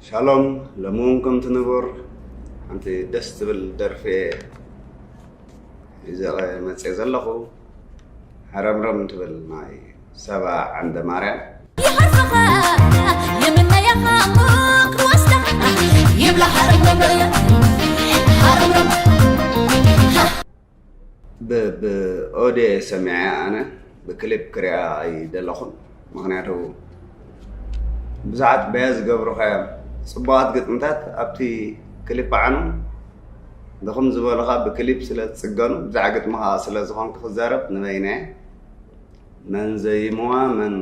ሻሎም ለምውን ከም ትንቡር ሓንቲ ደስ ትብል ደርፊ ሒዘቐ መፅየ ዘለኹ ሓረምረም ትብል ናይ ሰባ ዓንደማርያም። ይሃርመኻ ይምነየኻ እሞ ክወስደኻ ይብላ ሃረምረም ሃረምረም ብ ብ ኦዴ ሰሚዐያ ኣነ ብክሊፕ ክሪኣ ኣይደለኹን ምክንያቱ ብዙሓት በያ ዝገብሩኻዮም ፅቡቓት ግጥምታት ኣብቲ ክሊፕ ዓኑ ድኹም ዝበሉኻ ብክሊፕ ስለ ዝፅገኑ ብዛዕ ግጥምኻ ስለ ዝኾንክ ክዛረብ ንበይነየ መን ዘይሞዋ መን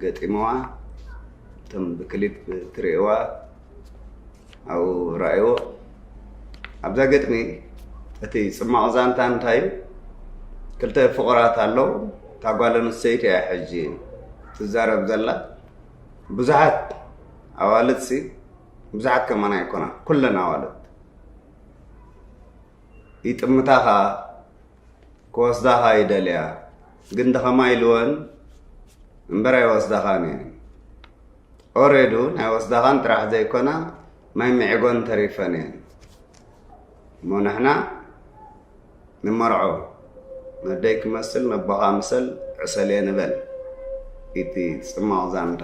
ገጢሞዋ እቶም ብክሊፕ ትርእዋ ኣብኡ ረኣይዎ ኣብዛ ገጥሚ እቲ ፅማቕ ዛንታ እንታይ እዩ ክልተ ፍቑራት ኣለዉ እታ ጓል ኣንስተይቲ እያ ሕጂ ትዛረብ ዘላ ብዙሓት ኣዋልድ ሲ ብዙሓት ከማን ኣይኮና ኩለን ኣዋልድ ይጥምታ ከዓ ክወስዳኻ ይደልያ ግን ድኸማይ ኢልወን እምበር ኣይወስዳኻን እየን ኦሬዱ ናይ ወስዳኻን ጥራሕ ዘይኮና ማይ ምዒጎን ተሪፈን እየን እሞ ንሕና ንመርዖ ነደይ ክመስል ነቦኻ ምሰል ዕሰልየ ንበል እቲ ጽማቕ ዛንታ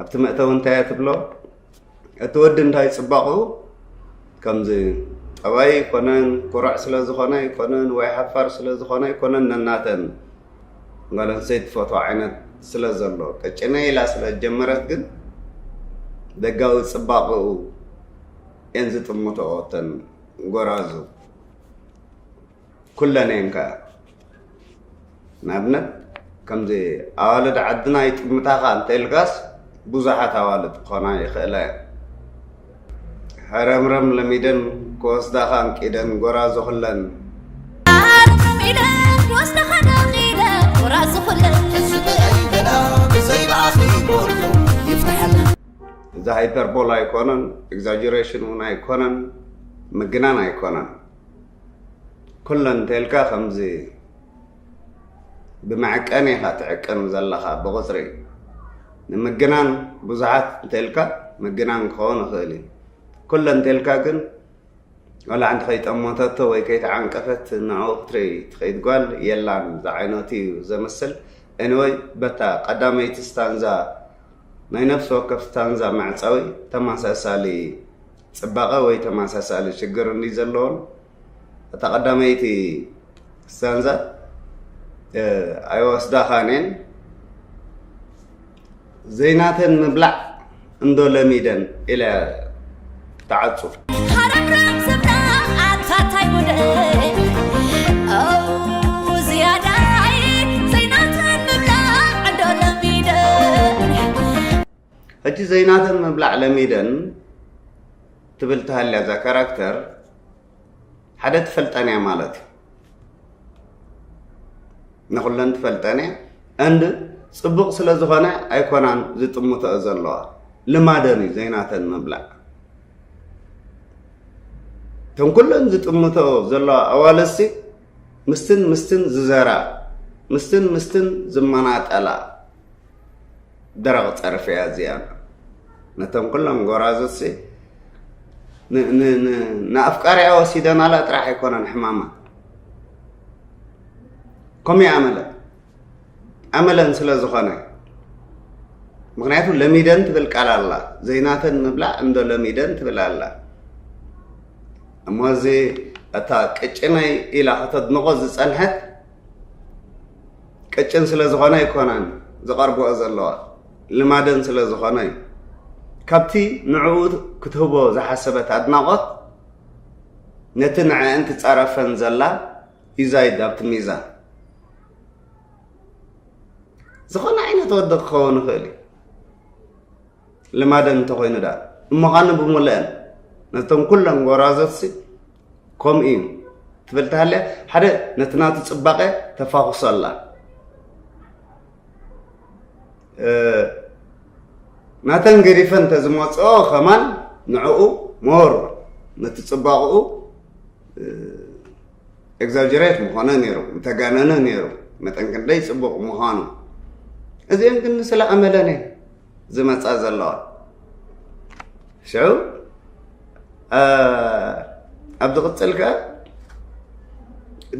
ኣብቲ መእተዊ እንታይ እያ ትብሎ እቲ ወዲ እንታይ ፅባቕኡ ከምዚ ጠባይ ኣይኮነን ኩራዕ ስለ ዝኾነ ኣይኮነን ወይ ሓፋር ስለ ዝኾነ ኣይኮነን ነናተን ጓል ኣንስተይቲ ትፈትዎ ዓይነት ስለ ዘሎ ቀጭነ ኢላ ስለ ጀመረት ግን ደጋዊ ፅባቕኡ እየን ዝጥምተኦ እተን ጎራዙ ኩለን እየን ከኣ ንኣብነት ከምዚ ኣዋልድ ዓድና ይጥምታኻ እንተኢልካስ ብዙሓት ኣዋልድ ክኾና ይኽእላ እየን ሕረምረም ለሚደን ክወስዳኻ እንቂደን ጎራዙ ኩለን እዚ ሃይፐርቦል ኣይኮነን ኤግዛጀሬሽን እውን ኣይኮነን ምግናን ኣይኮነን ኩለን እንተልካ ከምዚ ብመዐቀኒ ኢኻ ትዕቅን ዘለኻ ብቑፅሪ ንምግናን ብዙሓት እንተልካ ምግናን ክኸውን ይኽእል እዩ ኩለን እንተልካ ግን ዋላ ሓንቲ ከይጠመተቶ ወይ ከይተዓንቀፈት ንዕኡ ክትርኢ ትኸይድ ጓል የላን ዝዓይነቱ እዩ ዘምስል ኤኒወይ በታ ቀዳመይቲ ስታንዛ ናይ ነፍሲ ወከፍ ስታንዛ መዕፀዊ ተመሳሳሊ ጽባቐ ወይ ተመሳሳሊ ሽግር እንድዩ ዘለወን እታ ቀዳመይቲ ስታንዛ ኣይወስዳኻን እየን ዘይናተን ምብላዕ እንዶ ለሚደን ኢለ ተዓጹ ሃረምረም ዝብላ ኣታታይ ጉደይ ኣው ዝያዳይ ዘይናተን ምብላዕ ዕዶ ለሚደ ሕጂ ዘይናተን ምብላዕ ለሚደን ትብል ተሃልያ እዛ ካራክተር ሓደ ትፈልጠን እያ ማለት እዩ ንኩለን ትፈልጠን እያ እንድ ፅቡቅ ስለ ዝኾነ ኣይኮናን ዝጥምተኦ ዘለዋ ልማደን እዩ ዘይናተን ምብላዕ እተን ኩለን ዝጥምተኦ ዘለዋ ኣዋልሲ ምስትን ምስትን ዝዘራ ምስትን ምስትን ዝመናጠላ ደረቕ ጸርፊ እያ እዚኣ። ነቶም ኩሎም ጎራዙትሲ ንኣፍቃሪያ ወሲደናላ ጥራሕ ኣይኮነን ሕማማ ከምኡ ይኣመለ ኣመለን ስለ ዝኾነ ምክንያቱ ለሚደን ትብል ቃል ኣላ ዘይናተን ምብላዕ እንዶ ለሚደን ትብል ኣላ እሞ እዚ እታ ቅጭነይ ኢላ ከተድንቆ ዝፀንሐት ቅጭን ስለ ዝኾነ ኣይኮነን ዝቐርብኦ ዘለዋ ልማደን ስለ ዝኾነ እዩ ካብቲ ንዕኡ ክትህቦ ዝሓሰበት ኣድናቆት ነቲ ንዐአን ትፃረፈን ዘላ ዩዛይድ ኣብቲ ሚዛን ዝኾነ ዓይነት ወዲ ክኸውን ይኽእል እዩ ልማደን እንተኮይኑ ዳ እሞኻኒ ብሙልአን ነቶም ኩለን ጎራዘትሲ ከምኡ እዩ ትብል ተሃልያ ሓደ ነቲ ናቱ ፅባቐ ተፋኹሶ ኣላ ናተን ገዲፈን እንተዝመፅኦ ከማን ንዕኡ ሞር ነቲ ፅባቕኡ ኤግዛጀሬት ምኾነ ነይሩ ምተጋነነ ነይሩ መጠን ክንደይ ፅቡቕ ምዃኑ እዚኦም ግን ስለ ኣመለነ ዝመፃ ዘለዋ ሽዑ ኣብ ዝቕፅል ከ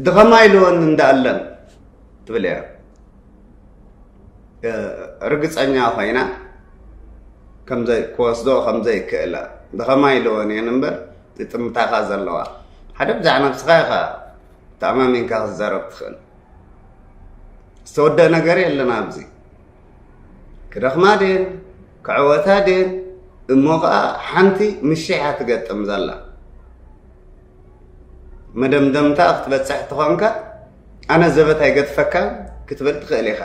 ድኸማ ኢልወን እንዳኣለን ትብል እያ ርግፀኛ ኮይና ክወስዶ ከምዘይክእላ ብኸማይ ልወን እየን እምበር ይጥምታኻ ዘለዋ ሓደ ብዛዕ ነብስኻ ኢኻ ተኣማሚንካ ክትዛረብ ትኽእል ዝተወደእ ነገር የለን ኣብዚ ክደኽማ ድን ክዕወታ ድን እሞ ከዓ ሓንቲ ምሽሕ እያ ትገጥም ዘላ መደምደምታ ክትበፅሕ ተኾንካ ኣነ ዘበት ኣይገድፈካን ክትብል ትኽእል ኢኻ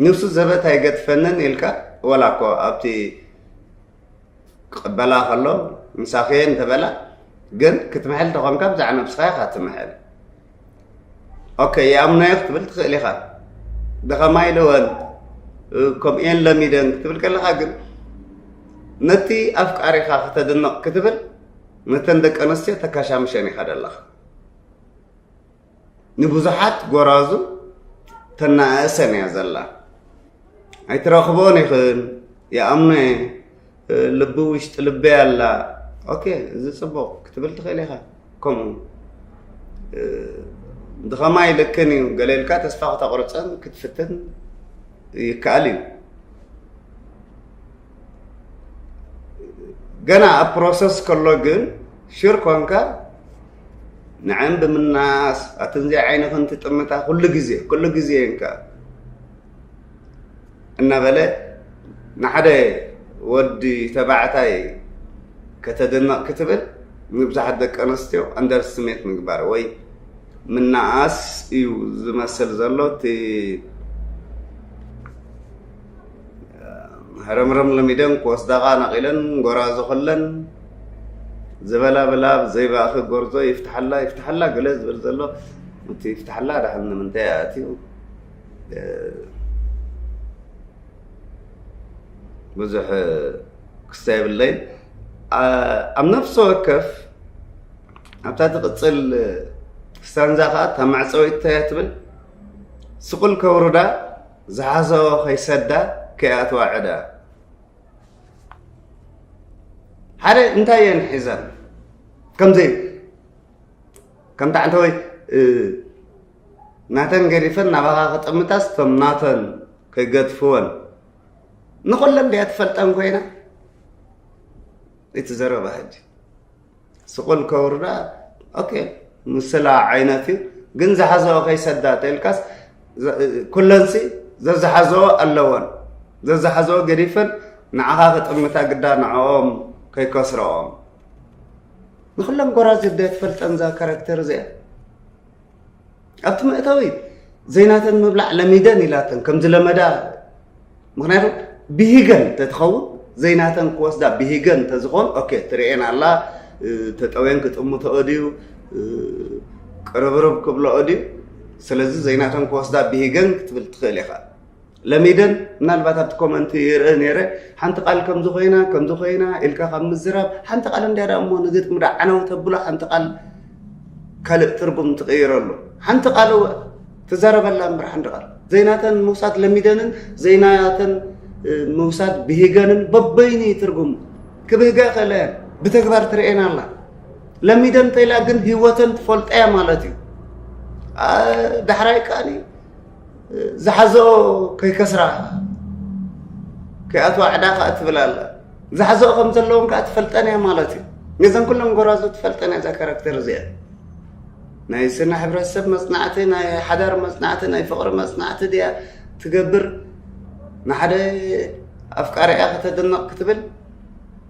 ንሱ ዘበት ኣይገድፈንን ኢልካ ወላ እኮ ኣብቲ ክቕበላ ከሎ ምሳኸየ እንተበላ ግን ክትምሕል ተኾንካ ብዛዕ ነብስኻ ኢኻ ትምሕል ኦከ የኣምናዮ ክትብል ትኽእል ኢኻ ደኸማይ ለወን ከምኡየን ለሚደን ክትብል ከለኻ ግን ነቲ ኣፍቃሪኻ ከተድንቕ ክትብል ነተን ደቂ ኣንስትዮ ተካሻምሸን ኢኻ ደለኻ ንብዙሓት ጎራዙ ተናእሰን እያ ዘላ ኣይትረኽቦን ይኽን ይኣምኖ እየ ልቢ ውሽጢ ልበይ ኣላ ኦኬ እዚ ፅቡቕ ክትብል ትኽእል ኢኻ ከምኡ ብኸማይ ልክን እዩ ገለ ኢልካ ተስፋ ክተቕርፀን ክትፍትን ይከኣል እዩ ገና ኣብ ፕሮሰስ ከሎ ግን ሽር ኮንካ ንዐን ብምናስ ኣትን ዘይ ዓይንኽን ትጥምታ ኩሉ ግዜ ኩሉ ግዜ እንካ እናበለ ንሓደ ወዲ ተባዕታይ ከተድንቕ ክትብል ንብዙሓት ደቂ ኣንስትዮ ኣንደርስቲሜት ምግባር ወይ ምናኣስ እዩ ዝመስል ዘሎ እቲ ረምረም ለሚደን ክወስዳኻ ነቒለን ጎራዙ ክለን ዝበላ ብላ ዘይባእኺ ጎርዞ ይፍትሓላ ይፍትሓላ ገለ ዝብል ዘሎ እቲ ይፍትሓላ ዳሕን ንምንታይ ኣትዩ ብዙሕ ክስተ የብለይ ኣብ ነፍሲ ወከፍ ኣብታ ትቕፅል ስታንዛ ከዓ እታ መዕፀዊት እንታይ ትብል ስቑል ከውርዳ ዝሓሰቦ ከይሰዳ ከይኣትዋ ዕዳ ሓደ እንታይ እየን ሒዘን ከምዘይ ከምታ ዓንተወይ ናተን ገዲፈን ናባኻ ክጥምታስ እቶም ናተን ከይገድፍወን ንኹለን ድያ ትፈልጠን ኮይና እቲ ዘረባ ሕጂ ስቑል ከውርዳ ኦኬ ምስላ ዓይነት እዩ ግን ዝሓዘኦ ከይሰዳ ተልካስ ኩለንሲ ዘዝሓዘኦ ኣለወን ዘዝሓዘኦ ገዲፈን ንዓኻ ክጥምታ ግዳ ንዕኦም ከይከስረኦም ንኩለን ጎራዝ ደ ትፈልጠን እዛ ካራክተር እዚኣ ኣብቲ መእተዊ ዘይናተን ምብላዕ ለሚደን ኢላተን ከም ዝለመዳ ምክንያቱ ብሂገን ተትኸውን ዘይናተን ክወስዳ ብሂገን እንተዝኾን ኦኬ ትርኤን ኣላ ተጠውየን ክጥምተኦ ድዩ ቅርብርብ ክብለኦ ድዩ ስለዚ ዘይናተን ክወስዳ ብሂገን ክትብል ትኽእል ኢኻ ለሚደን ምናልባት ኣብቲ ኮመንት ይርእ ነይረ ሓንቲ ቃል ከምዚ ኮይና ከምዚ ኮይና ኢልካ ካብ ምዝራብ ሓንቲ ቃል እንድያ ዳ እሞ ንግጥሚ ዳ ዓነው ተብሎ ሓንቲ ቃል ካልእ ትርጉም ትቕይረሉ ሓንቲ ቃል እወ ትዘረበላ እምበር ሓንቲ ቃል ዘይናተን ምውሳድ ለሚደንን ዘይናተን ምውሳድ ብሂገንን በበይኑ ትርጉሙ ክብህጋ ከለ ብተግባር ትርኤና ኣላ ለሚደን ተይላ ግን ህይወተን ትፈልጠያ ማለት እዩ ዳሕራይ ከኣ ዝሓዘኦ ከይከስራ ከይኣትዋ ዕዳ ከዓ ትብል ኣላ ዝሓዘኦ ከም ዘለዎም ከዓ ትፈልጠን እያ ማለት እዩ ነዘን ኩሎም ጎራዙ ትፈልጠን እያ እዛ ካራክተር እዚኣ ናይ ስነ ሕብረተሰብ መፅናዕቲ ናይ ሓዳር መፅናዕቲ ናይ ፍቅሪ መፅናዕቲ ድያ ትገብር ንሓደ ኣፍቃሪኣ ከተድንቕ ክትብል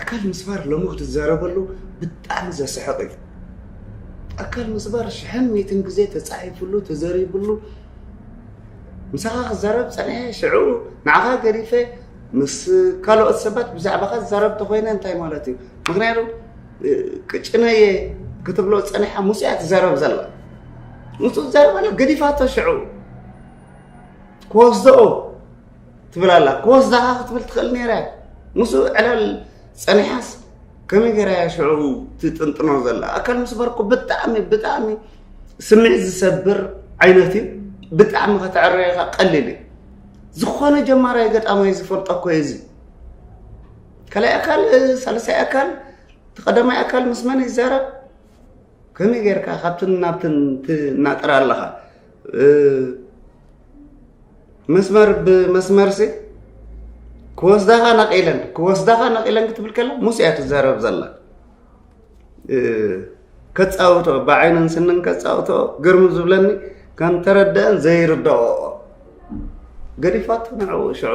ኣካል ምስባር ሎሚ ክትዛረበሉ ብጣዕሚ ዘስሕቕ እዩ ኣካል ምስባር ሽሕን ሚትን ግዜ ተፃሒፍሉ ተዘሪብሉ ምሳኻ ክዛረብ ፀንሐ ሽዑ ንዓኻ ገዲፈ ምስ ካልኦት ሰባት ብዛዕባኻ ዝዛረብ ተኮይነ እንታይ ማለት እዩ ምክንያቱ ቅጭነየ ክትብሎ ፀኒሓ ምስ እያ ትዛረብ ዘላ ንሱ ዝዛረብ ኣሎ ገዲፋቶ ሽዑ ክወስደኦ ትብል ኣላ ክወስዳኻ ክትብል ትኽእል ነይራ እያ ምስኡ ዕላል ፀኒሓስ ከመይ ገይራ እያ ሽዑ ትጥንጥኖ ዘላ ኣካል ምስባር እኮ ብጣዕሚ ብጣዕሚ ስምዒት ዝሰብር ዓይነት እዩ ብጣዕሚ ከተዕረየኻ ቀሊል እዩ ዝኾነ ጀማራይ ገጣማይ ዝፈልጦ እኮ እዩ እዚ ካልኣይ ኣካል ሳልሳይ ኣካል ተቐዳማይ ኣካል ምስ መን ይዛረብ ከመይ ጌርካ ካብትን ናብትን ትናጥራ ኣለኻ መስመር ብመስመርሲ ክወስዳኻ ነቒለን ክወስዳኻ ነቒለን ክትብል ከላ ሙስ እያ ትዛረብ ዘላ ከፃውቶ ብዓይንን ስንን ከፃውቶ ግርም ዝብለኒ ከም ተረድአን ዘይርዳኦ ገዲፋቶ ንዕኡ ሽዑ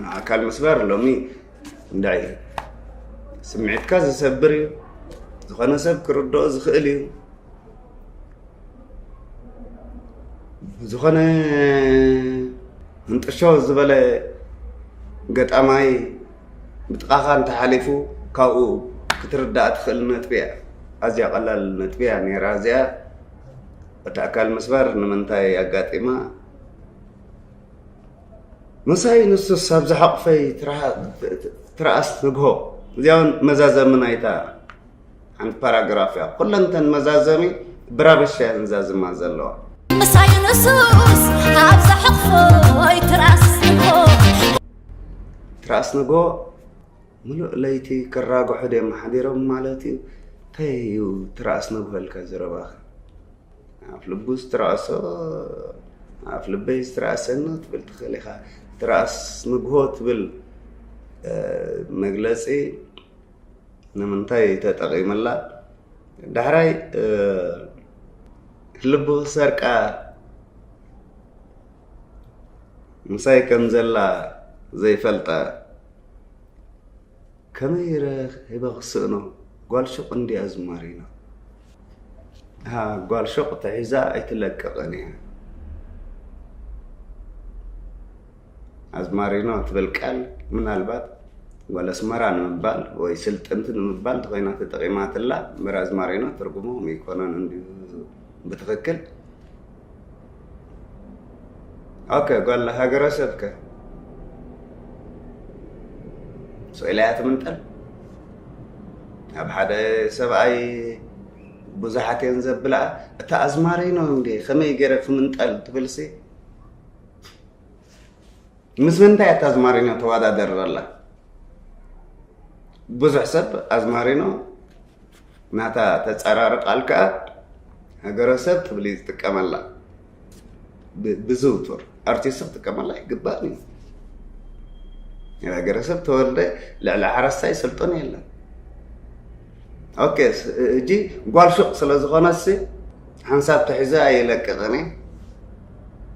ን ኣካል ምስባር ሎሚ እንዳይ እዩ ስምዒትካ ዝሰብር እዩ ዝኾነ ሰብ ክርድኦ ዝኽእል እዩ ዝኾነ ህንጥሾ ዝበለ ገጣማይ ብጥቓኻ እንተሓሊፉ ካብኡ ክትርዳእ ትኽእል ነጥቢ እያ ኣዝያ ቀላል ነጥቢ እያ ነይራ እዚኣ እቲ ኣካል ምስባር ንምንታይ ኣጋጢማ ምሳይ ንሱስ ኣብ ዝሓቑፈይ ትርኣስ ንግሆ። እዚኣ እውን መዛዘሚ ናይታ ሓንቲ ፓራግራፍ እያ። ኩለን እተን መዛዘሚ ብራብሻ እየን ዝዛዝማ ዘለዋ። ምሳይ ንሱስ ኣብ ዝሓቑፈይ ትርኣስ ንግሆ። ትርኣስ ንግሆ ምሉእ ለይቲ ክራግሑ ድዮም ሓዲሮም ማለት እዩ። እንታይ እዩ ትርኣስ ንግሆ ኢልካ ዝረባኺ? ኣፍ ልቡ ዝትረኣሶ ኣፍ ልበይ ዝትረኣሰኒ ትብል ትኽእል ኢኻ ትረኣስ ንግሆ ትብል መግለፂ ንምንታይ ተጠቒምላ ዳሕራይ ልቡ ክሰርቃ ምሳይ ከም ዘላ ዘይፈልጠ ከመይ ኢረ ሂበ ክስእኖ ጓል ሹቅ እንድያ ዝማሪና። እሃ ጓል ሾቅ ተሒዛ ኣይትለቅቅን እያ። ኣዝማሪኖ ትብል ቃል ምናልባት ጓል ኣስመራ ንምባል ወይ ስልጥንቲ ንምባል እንተኾይና ተጠቂማትላ እምበር ኣዝማሪኖ ትርጉሞም ኣይኮነን እንድዩ ብትኽክል ኦከ ጓል ሃገረሰብከ ስኢላያ ትምንጠል ኣብ ሓደ ሰብኣይ ብዙሓት እየን ዘብልኣ እታ ኣዝማሪኖ እንዴ ከመይ ገይረ ክምንጠል ትብልሲ ምስ ምንታይ እታ ኣዝማሪኖ ተወዳደር ዘላ ብዙሕ ሰብ ኣዝማሪኖ ናታ ተጻራሪ ቃል ከኣ ሃገረሰብ ትብል እዩ ዝጥቀመላ ብዝውቱር ኣርቲስት ክጥቀመላ ኣይግባእን እዩ ሃገረሰብ ተወልደ ልዕሊ ሓረስታይ ስልጡን የለን ኦኬ እጂ ጓል ሹቕ ስለ ዝኾነሲ ሓንሳብ ተሒዘ ኣይለቅቕን እየ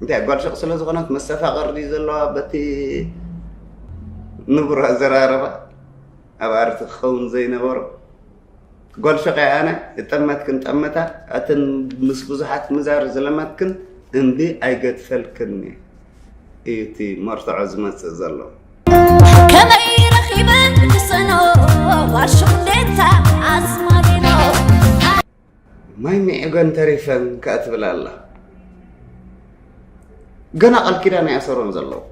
እንታይ ጓል ሹቕ ስለ ዝኾነት መሰፋቕር ድዩ ዘለዋ በቲ ንቡር ኣዘራረባ ኣብ ኣርት ክኸውን ዘይነበሮ ጓል ሸቀይ ኣነ እጠመትክን ጠመታ ኣትን ምስ ብዙሓት ምዛር ዝለመትክን እምቢ ኣይገድፈልክን እዩ እቲ መርትዖ ዝመፅእ ዘሎ ከመይ ረኺበ ክሰኖ ዋርሽኹ ማይ ሚዕገን ተሪፈን ከኣ ትብል ኣላ ገና ቃል ኪዳን ኣይኣሰሮን ዘለዉ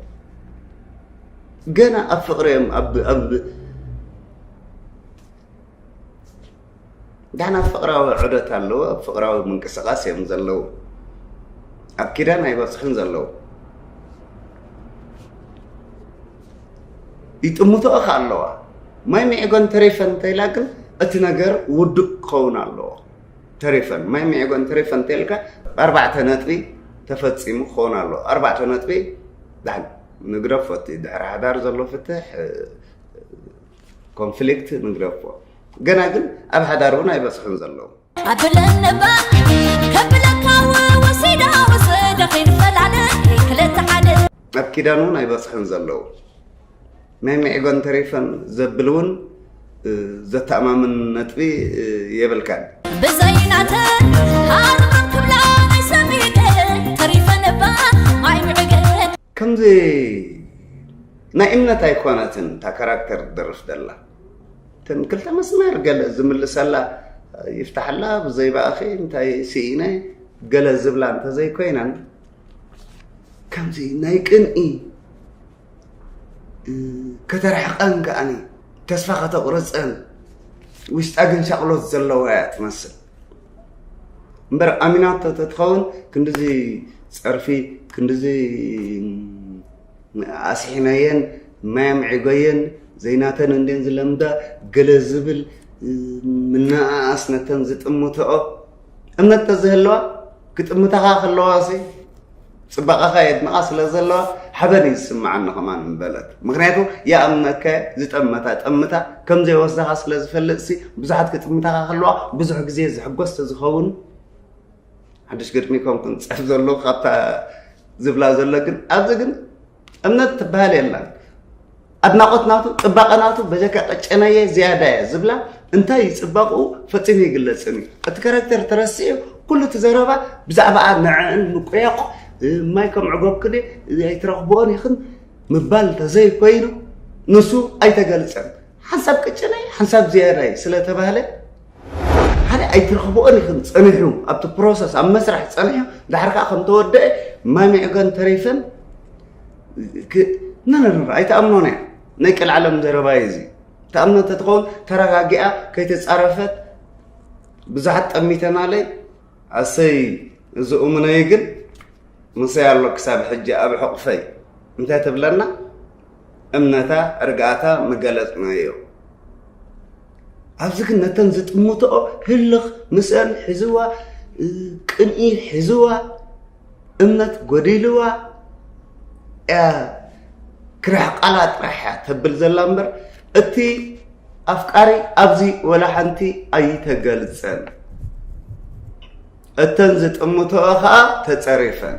ገና ኣብ ፍቅሪ እዮም ዳሕና ፍቅራዊ ዑደት ኣለዎ ኣብ ፍቅራዊ ምንቅስቃስ እዮም ዘለዉ ኣብ ኪዳን ኣይበፅሑን ዘለዉ ይጥምቶ እኻ ኣለዋ ማይ ሚዕጎን ተሬፈን ተይላ ግን እቲ ነገር ውዱእ ክኸውን ኣለዎ ተሬፈን ማይ ሚዕጎን ተሬፈን ተይልካ ኣርባዕተ ነጥቢ ተፈፂሙ ክኸውን ኣለዎ ኣርባዕተ ነጥቢ ዳን ንግረፎ እቲ ድሕሪ ሓዳር ዘሎ ፍትሕ ኮንፍሊክት ንግረፎ ገና ግን ኣብ ሓዳር እውን ኣይበፅሑን ዘለዉ ኣብ ኪዳን'ውን ኣይበጽሕን ዘለዉ። ናይ መዒጎን ተሪፈን ዘብል'ውን ዘተኣማምን ነጥቢ የብልካን። ከምዚ ናይ እምነት ኣይኮነትን እታ ካራክተር ትደርፍ ዘላ። እተን ክልተ መስመር ገለ ዝምልሰላ ይፍታሕላ ብዘይባእኺ እንታይ ስኢነ ገለ ዝብላ እንተዘይኮይነን ከምዚ ናይ ቅንኢ ከተርሕቐን ከዓኒ ተስፋ ከተቑርፀን ውሽጣ ግን ሻቕሎት ዘለዋ እያ ትመስል እምበር ኣሚናቶ ተትኸውን ክንዲዚ ፀርፊ ክንዲዚ ኣስሒነየን ማይ ኣምዒጎየን ዘይናተን እንድየን ዝለምዳ ገለ ዝብል ምንኣኣስ ነተን ዝጥምትኦ እምነት ተዘህለዋ ክጥምታኻ ከለዋሲ ፅባቐኻ የድንቓ ስለ ዘለዋ ሓበን እዩ ዝስምዓኒ ከማን ምበለት ምክንያቱ ይኣምነካ ዝጠመታ ጠምታ ከም ዘይወስዳኻ ስለ ዝፈልጥሲ ብዙሓት ክጥምታኻ ከለዋ ብዙሕ ግዜ ዝሕጎስ ተዝኸውን ሓድሽ ግጥሚ ከም ክንፅሕፍ ዘሎ ካብታ ዝብላ ዘሎ ግን ኣብዚ ግን እምነት ትበሃል የላን ኣድናቆት ናቱ ፅባቐ ናቱ በጀካ ቀጨነየ ዝያዳ እየ ዝብላ እንታይ እዩ ፅባቕኡ ፈፂሙ ይግለፅን እዩ እቲ ካራክተር ተረሲዑ ኩሉ እቲ ዘረባ ብዛዕባ ንዕዕን ምቁያቑ ማይ ከም ዕጎብ ክደ ኣይትረኽብኦን ይኽን ምባል ተዘይኮይኑ ንሱ ኣይተገልፀን ሓንሳብ ቅጭነይ ሓንሳብ ዝያዳይ ስለተባህለ ሓደ ኣይትረኽብኦን ኢኹም ጸኒሑ ኣብቲ ፕሮሰስ ኣብ መስርሕ ጸኒሑ ድሓር ከዓ ከም ተወደአ ማሚዕገን ተሪፈን ነነረ ኣይትኣምኖን እያ ናይ ቀልዓለም ዘረባ እዩ እዚ ተኣምኖ እንተትኸውን ተረጋጊኣ ከይተፃረፈት ብዙሓት ጠሚተናለይ ኣሰይ እዚ እሙነይ ግን ምሰይ ኣሎ ክሳብ ሕጂ ኣብ ሕቑፈይ እንታይ ትብለና እምነታ ርግኣታ ምገለጽናዮ። ኣብዚ ግን ነተን ዝጥምትኦ ህልኽ ምስአን ሒዝዋ፣ ቅንኢ ሒዝዋ፣ እምነት ጎዲልዋ ክርሕቃላ ጥራሕ እያ ተብል ዘላ እምበር እቲ ኣፍቃሪ ኣብዚ ወላ ሓንቲ ኣይተገልጸን። እተን ዝጥምትኦ ከዓ ተጸሪፈን።